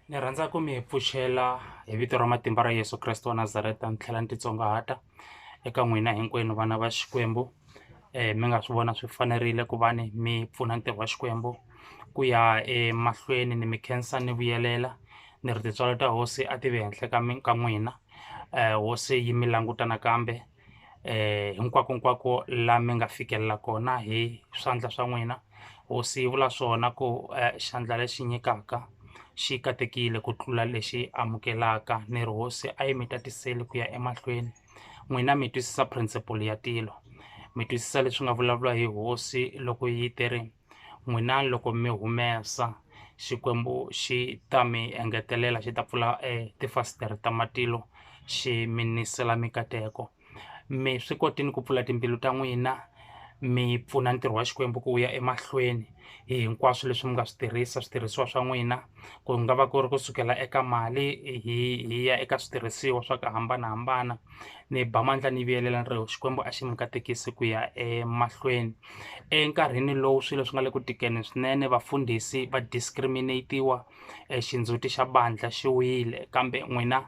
ni rhandza ku mi pfuxela hi vito ra matimba ra yesu kreste wa nazareta ni tlhela ni titsongahata eka n'wina hinkwenu vana va xikwembu um mi nga swi vona swi fanerile ku va ni mi pfuna ntirho wa xikwembu ku ya emahlweni ni mi khensa ni vuyelela ni ri tintswalo ta hosi a ti ve henhla ka ka n'wina um hosi yi mi languta nakambe eh hinkwakonkwako la mi nga fikelela kona hi swandla swa n'wina hosi yi vula swona ku eh, xandla lexi nyikaka xi katekile ku tlula lexi amukelaka ni ri hosi a yi mi tatiseli ku ya emahlweni n'wina mi twisisa principle ya tilo mi twisisa leswi nga vulavula hi hosi loko yi te ri n'wina loko mi humesa Xikwembu xi ta mi engetelela xi ta pfula tifasitere ta matilo xi mi nisela mikateko mi swi kotile ku pfula timbilu ta n'wina mi pfuna ntirho wa Xikwembu ku wu ya emahlweni hi hinkwaswo leswi mi nga swi tirhisa switirhisiwa swa n'wina ku nga va ku ri kusukela eka mali hi hi ya eka switirhisiwa swa ku hambanahambana. ni ba mandla ni vuyelela ni ri Xikwembu a xi mi katekisi ku ya emahlweni enkarhini lowu swilo swi nga le ku tikeni swinene vafundhisi va discriminate-iwa xindzhuti xa bandla xi wile kambe n'wina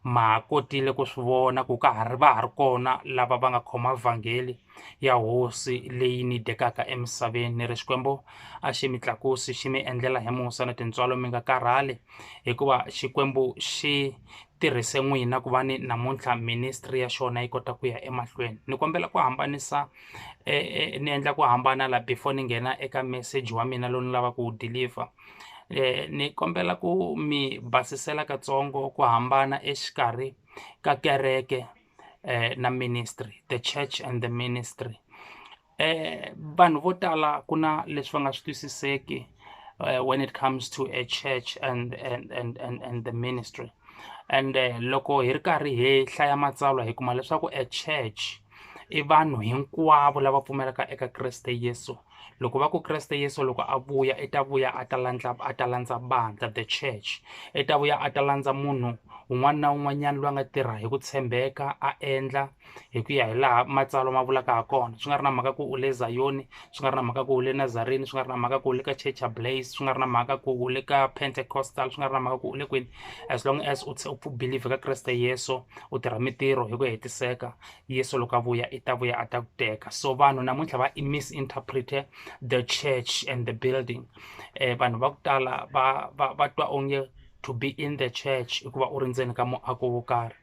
ma ha kotile ku swi vona ku ka ha ri va ha ri kona lava va nga khoma vhangeli ya hosi leyi ni dekaka emisaveni ni ri xikwembu a xi mi tlakusi xi mi endlela hi musa na tintswalo mi nga karhali hikuva xikwembu xi tirhise n'wina ku va ni namuntlha ministry ya xona yi kota ku ya emahlweni ni kombela ku hambanisa eh, eh, ni endla ku hambana la before ni nghena eka message wa mina lowu ni lava ku wu deliver eh, ni kombela ku mi basisela katsongo ku hambana exikarhi ka kereke na ministry the church and the ministry vanhu vo tala ku na leswi va nga swi twisiseki when it comes to a church and and and and, and the ministry and loko hi ri karhi hi hlaya matsalwa hi kuma leswaku a church i vanhu hinkwavo lava pfumelaka eka Kreste Yesu loko va ku Kreste Yesu loko a vuya i ta vuya a ta landza a ta landza bandza the church i ta vuya a ta landza munhu un'wana na un'wanyana loyi a nga tirha hi ku tshembeka a endla hi ku ya hi laha matsalwa ma vulaka ha kona swi nga ri na mhaka ku u le zayoni swi nga ri na mhaka ku u le nazarini swi nga ri na mhaka ku u le ka church ya blaze swi nga ri na mhaka ku u le ka pentecostal swi nga ri na mhaka ku u le kwini as long as u u believe ka kreste yeso u tirha mintirho hi ku hetiseka Yesu loko a vuya i ta vuya a ta ku teka so vanhu namuntlha va i misinterprete the church and the building eh, vanhu va ku tala va va va twa onge to be in the church i ku va u ri ndzeni ka muako wo karhi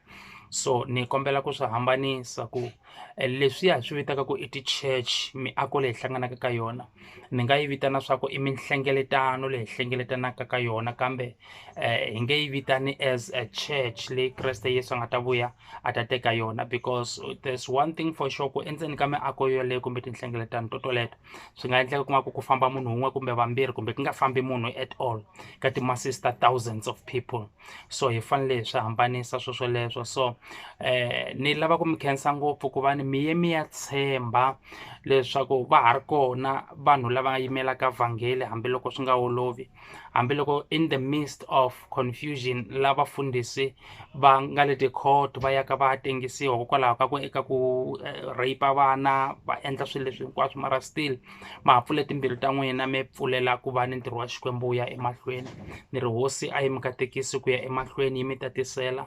so ni kombela ku swi hambanisa ku eh, leswiya hi swi vitaka ku i ti-church miako leyi hlanganaka ka yona ni nga yi vitana swa ku i minhlengeletano leyi hlengeletanaka ka yona kambe um hi nge yi vitani as a church leyi kreste yesu a nga ta vuya a ta teka yona because there's one thing for sure ku endzeni ka miako yoleyo kumbe tinhlengeletano to toleto swi nga endleka ku nga ku ku famba munhu wun'we kumbe vambirhi kumbe ku nga fambi munhu at all ka ti-masses ta thousands of people so hi fanele hi swi hambanisa swo swoleswo so eh ni lava ku mi khensa ngopfu ku va ni mi ye mi ya tshemba leswaku va ha ri kona vanhu lava yimelaka vhangeli hambiloko swi nga olovi hambiloko in the midst of confusion la vafundhisi va nga le ti-court va yaka va ya tengisiwa hikokwalaho ka ku eka ku eh, rape vana va endla swilo leswi hinkwaswo mara still ma ha pfule timbirhi ta n'wina mi pfulela ku va ni ntirho wa xikwembu wu ya emahlweni ni ri hosi a yi mi katekisi ku ya emahlweni yi mi tatisela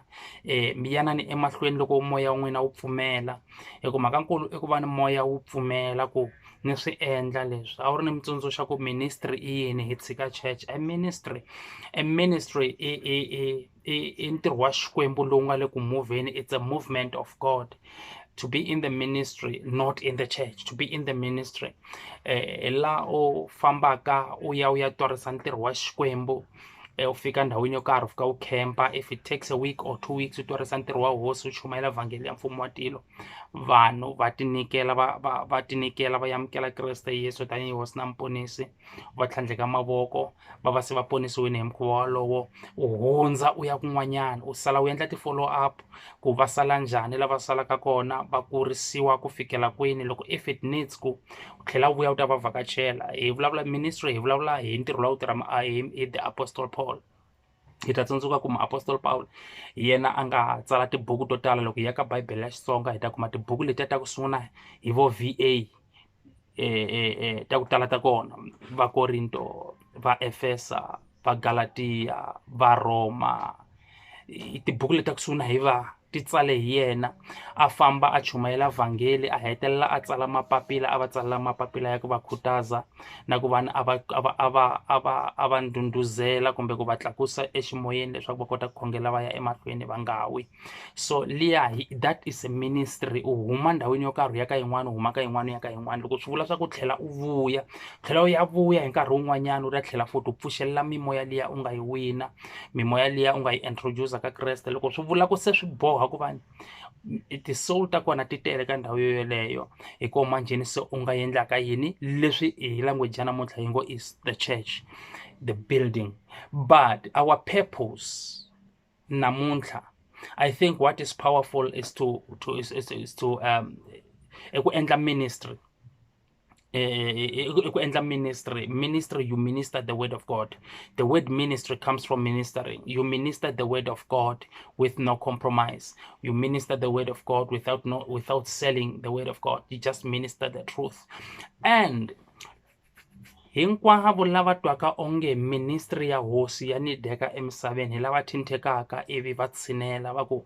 um mi yanani emahlweni loko moya wa n'wina wu pfumela hi ku mhaka nkulu i ku va ni moya wu pfumela ku ni swi endla leswi a wu ri ni mitsundzuxa ku ministry i yini hi tshika church a ministry a ministry i i i i i ntirho wa xikwembu lowu nga le ku movheni it's a movement of god to be in the ministry not in the church to be in the ministry eh, la u fambaka u ya u ya twarisa ntirho wa xikwembu Eh, ufika ndhawini yo karhi ufika wu campa if it takes a week or two weeks u twarisa ntirho wa hosi u chumayela vhangeli ya mfumo wa tilo vanhu va tinyikela va va va tinyikela va amukela kreste yesu tanihi hosi na muponisi va tlhandleka mavoko va va se va ponisiwile hi mukhuva wolowo u hundza u ya kun'wanyana u sala u endla ti-follow up ku va sala njhani lava salaka kona va kurisiwa ku fikela kwini loko if it needs ku u tlhela u vuya u ta va vhakachela hi vulavula ministry hi vulavula hi ntirho lowu tirha hi the apostle paul hi ta tsundzuka ku muapostola Pawulo hi yena a nga tsala tibuku to tala loko hi ya ka Bibele ya Xitsonga hi ta kuma tibuku letiya ta ku sungula hi vo VA e, e, e, ta ku tala ta kona va Korinto va Efesa va Galatiya va Roma tibuku leti ta ku sungula hi va ti tsale hi yena a famba a chumayela vhangeli a hetelela a tsala mapapila a va tsalela mapapila ya ku va khutaza na ku vana a va a va a va a va a va ndhundhuzela kumbe ku va tlakusa eximoyeni leswaku va kota ku khongela va ya emahlweni va nga wi so liya that is a ministry u huma ndhawini yo karhi u ya ka yin'wana u huma ka yin'wana u ya ka yin'wana loko swi vula swa ku tlhela u vuya tlhela u ya vuya hi nkarhi wun'wanyana u ta tlhela futhi u pfuxelela mimoya liya u nga yi wina mimoya liya u nga yi introducer ka kreste loko swi vula ku se swi boha ku va ti-soul ta kona ti tele ka ndhawu yo yoleyo hi koho manjheni se u nga endlaka yini leswi hi language ya namuntlha yi ngo is the church the building but our purpose namuntlha i think what is powerful is to, to, is, is, is to um, eku endla ministry eku endla ministry ministry you minister the word of god the word ministry comes from ministering you minister the word of god with no compromise you minister the word of god without no without selling the word of god you just minister the truth and hinkwavo lava twaka onge ministry ya hosi ya ni deka emisaveni hi lava thinthekaka ivi va tshinela va ku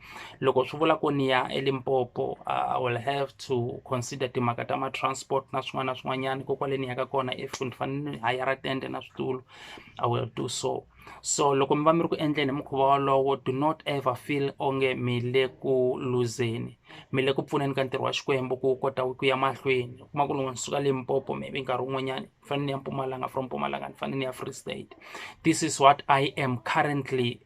loko swi vula ku ni ya elimpopo i will have to consider timhaka ta ma-transport na swin'wana na swin'wanyana ko kwale ni yaka kona if ni fanele ni hayara tende na switulu i will do so so loko mi va mi ri ku endleni hi mukhuva wolowo do not ever feel onge mi le ku luzeni mi le ku pfuneni ka ntirho wa xikwembu ku kota ku ya mahlweni kuma ku loko ni suka limpopo maybe nkarhi wun'wanyana ni fanele ni ya mpumalanga from mpumalanga ni fanele ni ya free state this is what i am currently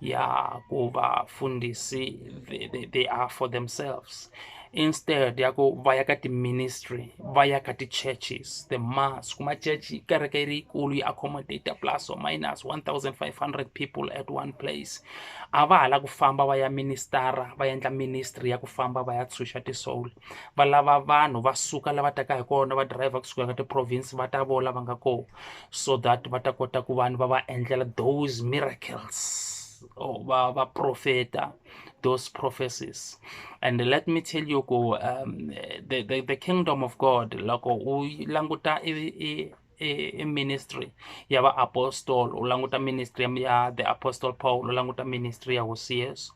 ya ku vafundhisi they, they, they are for themselves instead ya ku va ya ka ti-ministry va ya ka ti-churches the mass kuma church kereke yi ri yikulu yi accommodate plus or minus 1500 people at one place a va ha la ku famba va ya ministara va endla ministry ya ku famba va ya tshunxa ti-soul va lava vanhu va suka lava taka hi kona va driver kusuka ka ti-province va ta vola va nga kona so that va ta kota ku vanhu va va endlela those miracles or va va profeta those prophecies and let me tell you ku um, the, the, the kingdom of god loko u languta i, i ministry ya vaapostolo u languta ministry ya the apostle paul u languta ministry ya hosi yesu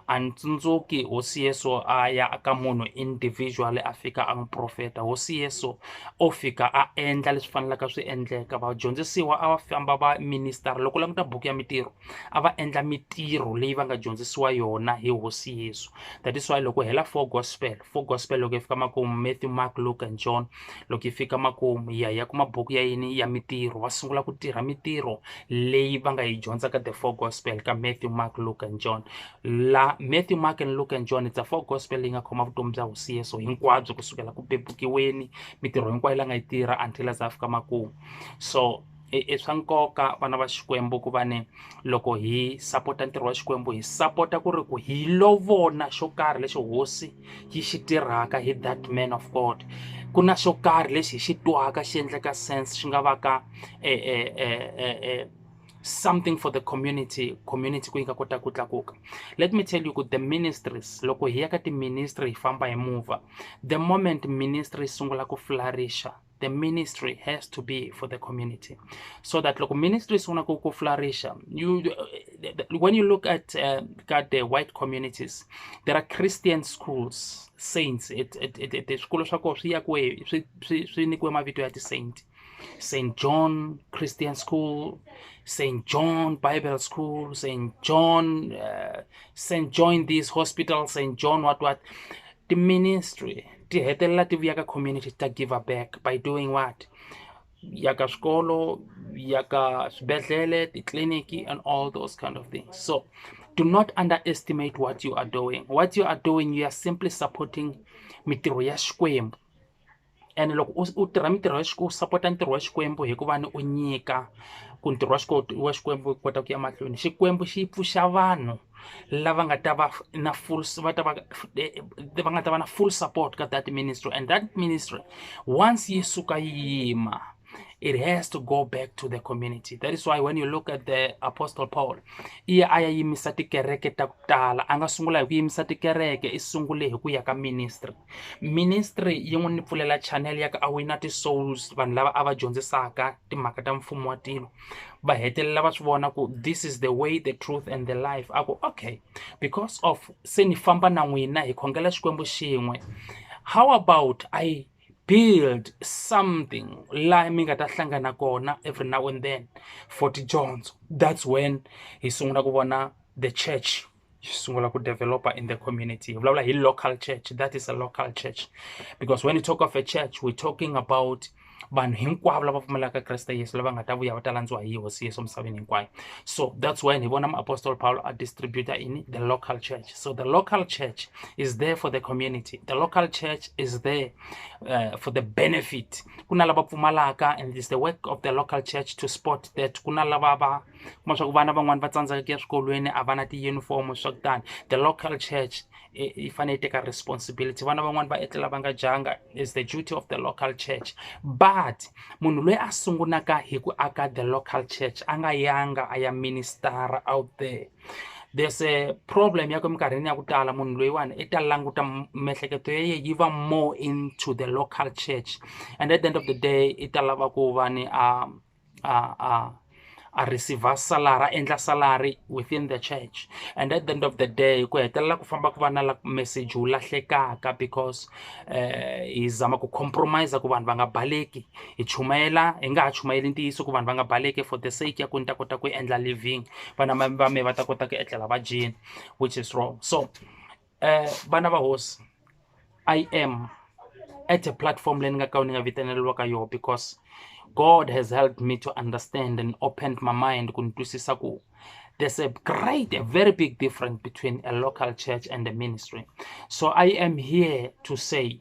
a ni tsundzuki hosi yesu a ya ka munhu individual a fika a n'wi profeta hosi yesu o fika a endla leswi fanelaka swi endleka vadyondzisiwa a va famba va minister loko languta buku ya mitirho a va endla mitirho leyi va nga dyondzisiwa yona hi hosi yesu that is why loko hela four gospel Four Gospel loko yi fika makumu, Matthew, Mark, Luke and John loko yi fika makumu yi ya yi ya kuma buku ya yini ya mitirho va sungula ku tirha mitirho leyi va nga yi dyondza ka the Four Gospel ka Matthew, Mark, Luke and John. La Matthew, Mark and Luke and John it's a Four Gospel leyi nga khoma vutomi bya hosi Yesu hinkwabyo kusukela ku bebukiweni mitirho hinkwayo la nga yi tirha until a za a fika makumu so. i i swa nkoka vana va xikwembu ku va ni loko hi sapota ntirho wa xikwembu hi sapota ku ri ku hi lovona xo karhi lexi hosi yi xi tirhaka hi that man of god ku na xo karhi lexi hi xi twaka xi endleka sense xi nga va ka eh, eh, eh, eh, eh, something for the community community ku yi nga kota ku tlakuka let me tell you ku the ministries loko hi ya ka tiministry hi famba hi mova the moment ministry yi sungula ku flourisha the ministry has to be for the community so that local ministries want to go flourish you when you look at uh, at the white communities there are christian schools saints it it it, it swikolo swa koho swi yakiwe swi swi nyikiwe mavito ya ti-saint st john christian school st john bible school st john uh, st john this hospital st john what what Ti-ministry ti hetelela ti vuya ka community ti ta give a back by doing what? Ya ka swikolo, ya ka swibedhlele, titliliniki and all those kind of things. So do not underestimate what you are doing, what you are doing you are simply supporting mintirho ya Xikwembu. ene loko u u tirha mintirho ya u sapota ntirho wa xikwembu hikuva ni u nyika ku ntirho wa xikwembu wa xikwembu wu kota ku ya mahlweni xikwembu xi pfuxa vanhu lava nga ta va na full va ta va va nga ta va na full support ka that ministry and that ministry once yi suka yi yima. it has to go back to the community that is why when you look at the apostle paul iye a ya yimisa tikereke ta ku tala a nga sungula hi ku yimisa tikereke i sungule hi ku ya ka ministry ministry yi n'wi ni pfulela channel ya ka a wina ti-souls vanhu lava a va dyondzisaka timhaka ta mfumo wa tilo va hetelela va swi vona ku this is the way the truth and the life a ku okay because of se ni famba na n'wina hi khongela xikwembu xin'we how about i build something laha mi nga ta hlangana kona every now and then for tidyondzo that's when hi sungula ku vona the church yi sungula ku developer in the community hi vulavula hi local church that is a local church because when you talk of a church we're talking about vanhu hinkwavo lava pfumelaka kreste yesu lava nga ta vuya va ta landziwa hi hosi yesu emisaveni hinkwayo so that's when hi vona muapostoli pawulo a distributa ini the local church So the local church is there for the community. The local church is there uh, for the benefit. Kuna lava pfumalaka and it's the work of the local church to support that. Kuna lava va kuma swa ku vana van'wani va tsandzeka ku ya swikolweni a va na tiyunifomo swa kutani. The local church yi fanele yi teka responsibility vana van'wani va etlela va nga dyanga is the duty of the local church but munhu loyi a sungulaka hi ku aka the local church a nga yanga a ya ministara out there there's a problem ya ku eminkarhini ya ku tala munhu loyiwani i ta languta miehleketo ya yena yi va more into the local church and at the end of the day i ta lava ku va ni a a a a receive salary a endla salary within the church and at the end of the day ku hetelela ku famba ku va na message wu lahlekaka because um hi zama ku compromise ku vanhu va nga baleki Hi chumayela hi nga ha chumayeli ntiyiso ku vanhu va nga baleki for the sake ya ku ni ta kota ku endla living vana va me va ta kota ku etlela va dyile which is wrong so vana va hosi I am at a platform leyi ni nga ka ni nga vitaneriwa ka yona because God has helped me to understand and opened my mind ku ni twisisa ku there's a great a very big difference between a local church and a ministry so I am here to say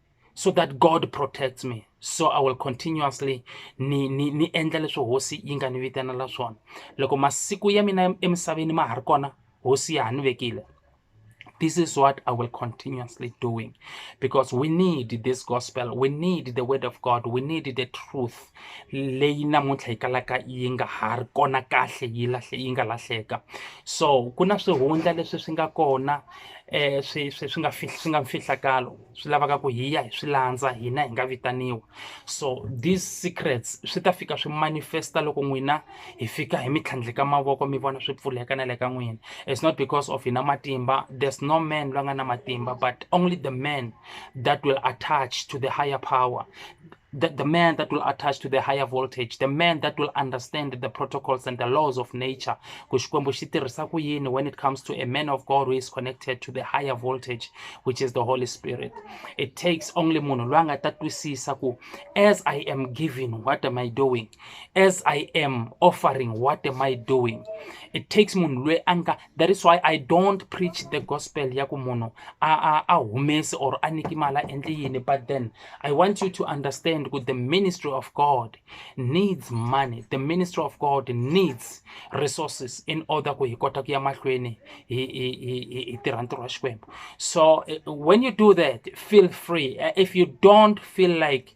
so that god protects me so i will continuously ni ni ni endla leswi hosi yi nga ni vitanela swona loko masiku ya mina emisaveni ma ha ri kona hosi ya ha ni vekile this is what I will continuously doing because we need this gospel. We need the word of God. We need the truth. Leyi namuntlha yi kalaka yi nga ha ri kona kahle yi lahle yi nga lahleka. So ku na swihundla leswi swi nga kona eh swi swi swi nga swi nga mfihlakalo. swi lavaka ku hi ya hi swi landza hina hi nga vitaniwa so these secrets swi ta fika swi manifesta loko n'wina hi fika hi mi tlhandleka mavoko mi vona swi pfuleka na le ka n'wina it's not because of hina matimba there's no man loyi a nga na matimba but only the man that will attach to the higher power the, the man that will attach to the higher voltage the man that will understand the protocols and the laws of nature ku xikwembu xi tirhisa ku yini when it comes to a man of god who is connected to the higher voltage which is the holy spirit it takes only munhu loyi a nga ta twisisa ku as i am giving what am i doing as i am offering what am i doing it takes munhu loyi a nga that is why i don't preach the gospel ya ku munhu a, a, a humesi or a niki mali a endli yini but then i want you to understand ku the ministry of god needs money the ministry of god needs resources in order ku hi kota ku ya mahlweni hi, hi, hi, hi tirha ntirho wa xikwembu so eh, when you do that feel free eh, if you don't feel like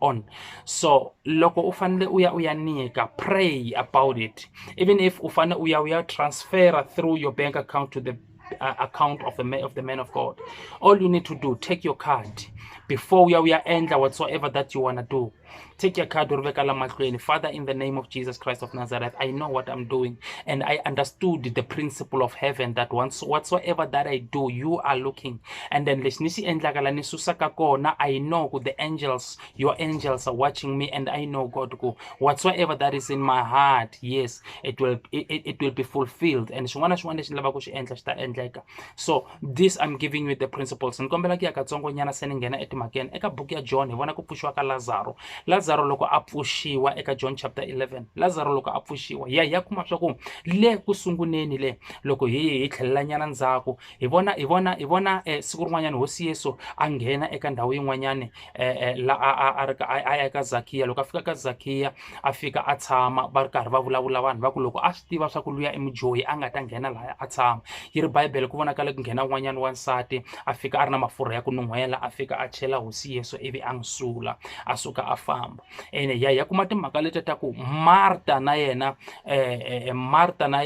on so loko u fanele u ya u ya nyika pray about it even if u fanele u ya u ya transfera through your bank account to the uh, account of the, man, of the man of god all you need to do take your card before uya uya endla whatsoever that you want to do take your card uri veka lamahlweni father in the name of jesus christ of nazareth i know what i'm doing and i understood the principle of heaven that once whatsoever that i do you are looking And then lexi ni xi endlaka la ni susaka kona i know ku the angels your angels are watching me and i know god ku whatsoever that is in my heart yes it will it, it will be fulfilled and xin'wana na xin'wana lexi ni lavaka ku xi endla xi ta endleka so this i'm giving you the principles ni kombela ku ya katsongo nyana se ni nghena etimhakeni eka buku ya john hi vona ku pfuxiwa ka lazaro lazaro loko a pfuxiwa eka john chapter 11 lazaro loko a pfuxiwa ya ya kuma swa ku le ku sunguleni le loko hi hi tlhelelanyana ndzhaku Hi vona, hi vona, hi vona eh, siku rin'wanyana hosi Yesu a nghena eka ndhawu yin'wanyana eh, eh, la a a a ri ka- a a ya eka Zakiya loko a fika ka Zakiya a fika a tshama va ri karhi va vulavula vanhu va ku loko a swi tiva swa ku luya i mudyohi a nga ta nghena laya a tshama yi ri Bibele ku vonakale ku nghena un'wanyana wansati a fika a ri na mafurha ya ku nun'hwela a fika a chela hosi Yesu ivi a n'wi sula a suka a famba ene hi ya hi ya kuma timhaka leti ta ku marta na yena um marta na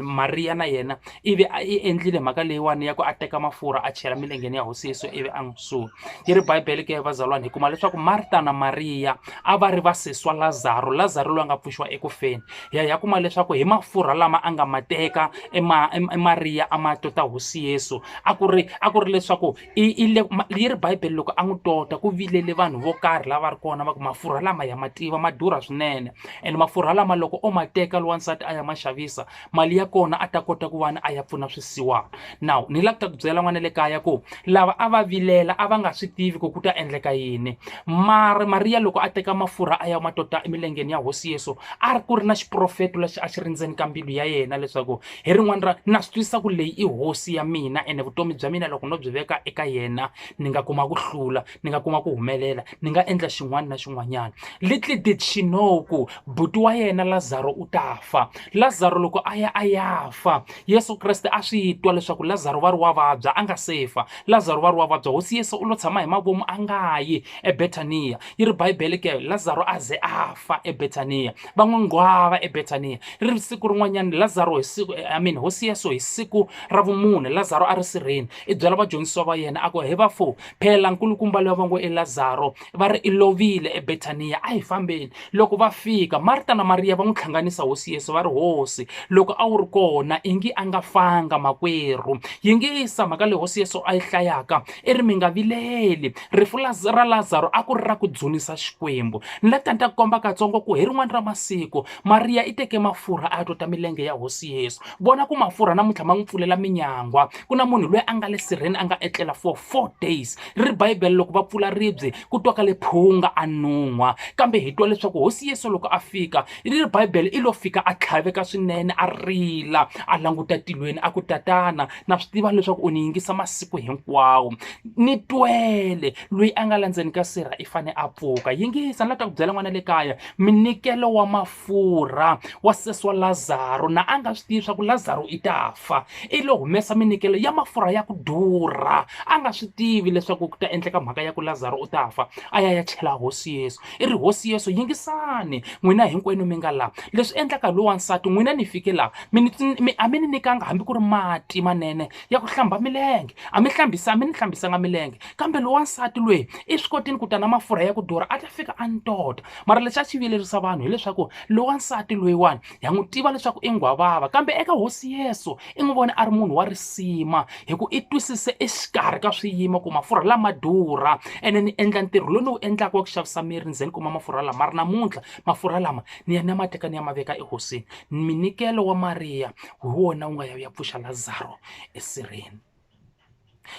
mariya na yena ivi a i endlile mhaka leyiwani ya ku a teka mafurha a chela milengeni ya hosi yesu ivi a n'wi suka yi ri bibele ke vazalwana hi kuma leswaku marta na mariya a va ri vasiswa lazaro lazaro loyi a nga pfuxiwa eku feni hi ya hi ya kuma leswaku hi mafurha lama a nga ma teka emariya a ma tota hosi yesu a ku ri a ku ri leswaku yi ri bibele loko a n'wi tola ku vilela vanhu vo karhi lava ri kona va ku mafurha lama ya ma tiva ma durha swinene ene mafurha lama loko o ma teka lowa nsati a ya ma xavisa mali ya kona a ta kota ku va ni a ya pfuna swisiwana nawu ni lava ku byela n'wana le kaya ku lava a va vilela a va nga swi tivi ku ku ta endleka yini mara mariya loko a teka mafurha a ya ma tota emilengeni ya hosi yesu a ri ku ri na xiprofeto lexi a xi ri ndzeni ka mbilu ya yena leswaku hi rin'wana ra na swi twisisa ku leyi i hosi ya mina ene vutomi bya mina loko no byi veka eka yena ni nga kuma ku hlula ni nga kuma ku humelela ni nga endla xin'wana na xin'wanyana little did she know ku buti wa yena lazaro u ta fa lazaro loko a ya a ya fa yesu kreste a swi twa leswaku lazaro va ri wa vabya a nga se fa lazaro va ri wa vabya hosi yesu u lo tshama hi mavomu a nga yi ebetaniya yi ri bibele ke lazaro a ze a fa ebetaniya va n'wi nghwava eBetaniya. Ri ri siku rin'wanyana Lazaro hi siku, eh, I mean, hosi Yesu hi siku ra vumune, Lazaro a ri sirheni. I byela vadyondzisiwa va yena a ku, He vafo, phela nkulukumba loyi va ngo i Lazaro va ri i lovile eBetaniya, a hi fambeni. Loko va fika, Marta na Mariya va n'wi tlhanganisa hosi Yesu va ri, Hosi, loko a wu ri kona i ngi a nga fanga makwerhu. Yingisa mhaka leyi hosi Yesu a yi hlayaka, i ri, Mi nga vileli. Rifu la, ra Lazaro a ku ri ra ku dzunisa Xikwembu. Ni la tani ta ku komba katsongo ku hi rin'wana ra masiku, Mariya i teke mafurha a ya tota milenge ya Hosi Yesu. Vona ku mafurha namuntlha ma n'wi pfulela minyangwa. Ku na munhu loyi a nga le sirheni a nga etlela for four days. Ri ri Bibele, loko va pfula ribye, ku twakale phunga, a nun'hwa. Kambe hi twa leswaku Hosi Yesu loko a fika, ri ri Bibele, i lo fika a tlhaveka swinene, a rila, a languta tilweni, a ku, Tatana, na swi tiva leswaku u ni yingisa masiku hinkwawo ni twele loyi a nga la ndzeni ka sirha i fane a pfuka yingisa ni la ta ku byela n'wana le kaya minikelo wa mafurha wa sesi wa lazaro na a nga swi tivi leswaku lazaro i ta fa i lo humesa minikelo ya mafurha ya ku durha a nga swi tivi leswaku ku ta endleka mhaka ya ku lazaro u ta fa a ya ya chela hosi yesu i ri hosi yesu yingisani n'wina hinkwenu mi nga laha leswi endlaka lowu wansati n'wina ni fike laha mi a mi ni nyikanga hambi ku ri mati manene ya ku hlamba milenge a mi hlambisa a mi ni hlambisanga milenge kambe lowu wansati lweyi i swi kotini ku ta na mafurha ya ku durha a ta fika a ni tota mara lexi a xi viyelerisa vanhu hileswaku lowu wansati loyiwani ha n'wi tiva leswaku i nghwavava kambe eka hosi yesu i n'wi vone a ri munhu wa risima hi ku i twisise exikarhi ka swiyimo ku mafurha lama durha ene ni endla ntirho lowu ni wu endlaka wa ku xavisa miri ni ze ni kuma mafurha lama ma ri namuntlha mafurha lama ni ya ni ya ma teka ni ya ma veka ehosini minikelo wa mariya hi wona wu nga ya wu ya pfuxa lazaro esirheni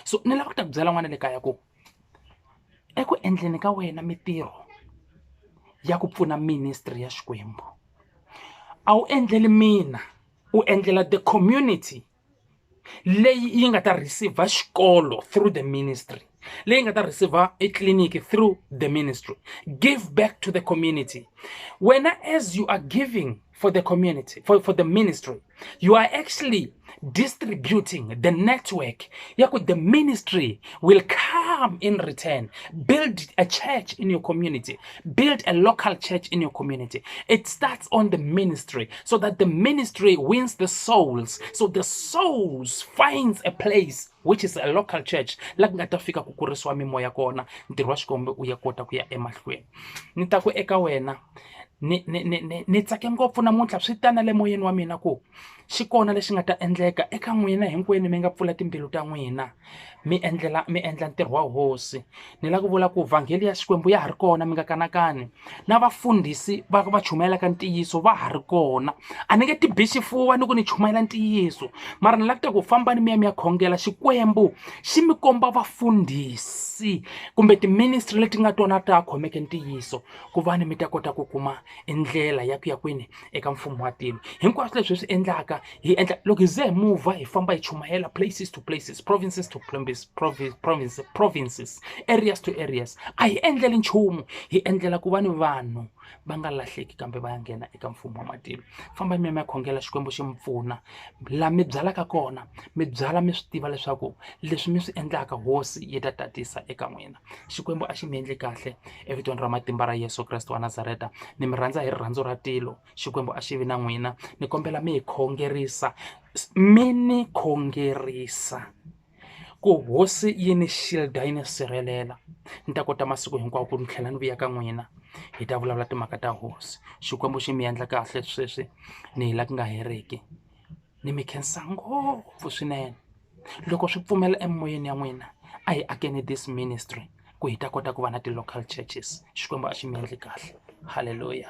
so ni lava ku ta ku byela n'wana le kaya ku eku endleni ka wena mitirho ya ku pfuna ministry ya Xikwembu a wu endleli mina u endlela the community leyi yi nga ta receiver xikolo through the ministry leyi nga ta receiver etliliniki through the ministry give back to the community wena as you are giving for the community, for, for the ministry. You are actually distributing the network. Yaku, the ministry will come in return. Build a church in your community. Build a local church in your community. It starts on the ministry so that the ministry wins the souls. So the souls finds a place which is a local church la ku nga ta fika ku kurisiwa mimoya kona ntirho wa xikombe u ya kota ku ya emahlweni ni ta ku eka wena ni ni ni ni ni tsake ngopfu namuntlha swi ta na le moyeni wa mina ku xi kona lexi nga ta endleka eka n'wina hinkwenu mi nga pfula timbilu ta n'wina mi endlela mi endla ntirho wa hosi ni lava ku vula ku vhangeli ya xikwembu ya ha ri kona mi nga kanakani na vafundhisi va va chumayelaka ntiyiso va ha ri kona a ni nge ti bi xifuva ni ku ni chumayela ntiyiso mara ni lava ku ta ku fambani mi ya mi ya khongela xikwembu xi mi komba vafundhisi kumbe tiministry leti nga tona ta khomeke ntiyiso ku va ni mi ta kota ku kuma i ndlela ya ku ya kwini eka mfumo wa tilo hinkwaswo leswi hi swi endlaka hi endla loko hi ze hi muvha hi famba hi chumayela places to places provinces to provinces province provinces areas to areas a hi endleli nchumu hi endlela ku va ni vanhu va nga lahleki kambe va ya nghena eka mfumo wa matilo famba mi ya mi ya khongela xikwembu xi mi pfuna laha mi byalaka kona mi byala mi swi tiva leswaku leswi mi swi endlaka hosi yi ta tatisa eka n'wina xikwembu a xi mi endli kahle Evitweni ra matimba ra Yesu Kreste wa Nazareta, ni mi rhandza hi rirhandzu ra tilo. Xikwembu a xi vi na n'wina. Ni kombela mi hi khongerisa, mi ni khongerisa ku hosi yi ni xilda yi ni sirhelela ni ta kota masiku hinkwawo ku ni tlhela ni vuya ka n'wina hi ta vulavula timhaka ta hosi xikwembu xi mi endla kahle sweswi ni hi la ku nga heriki Ni mi khensa ngopfu swinene. Loko swi pfumela emimoyeni ya n'wina, a hi akeni this ministry ku hi ta kota ku va na ti-local churches. Xikwembu a xi mi endle kahle. Halleluya.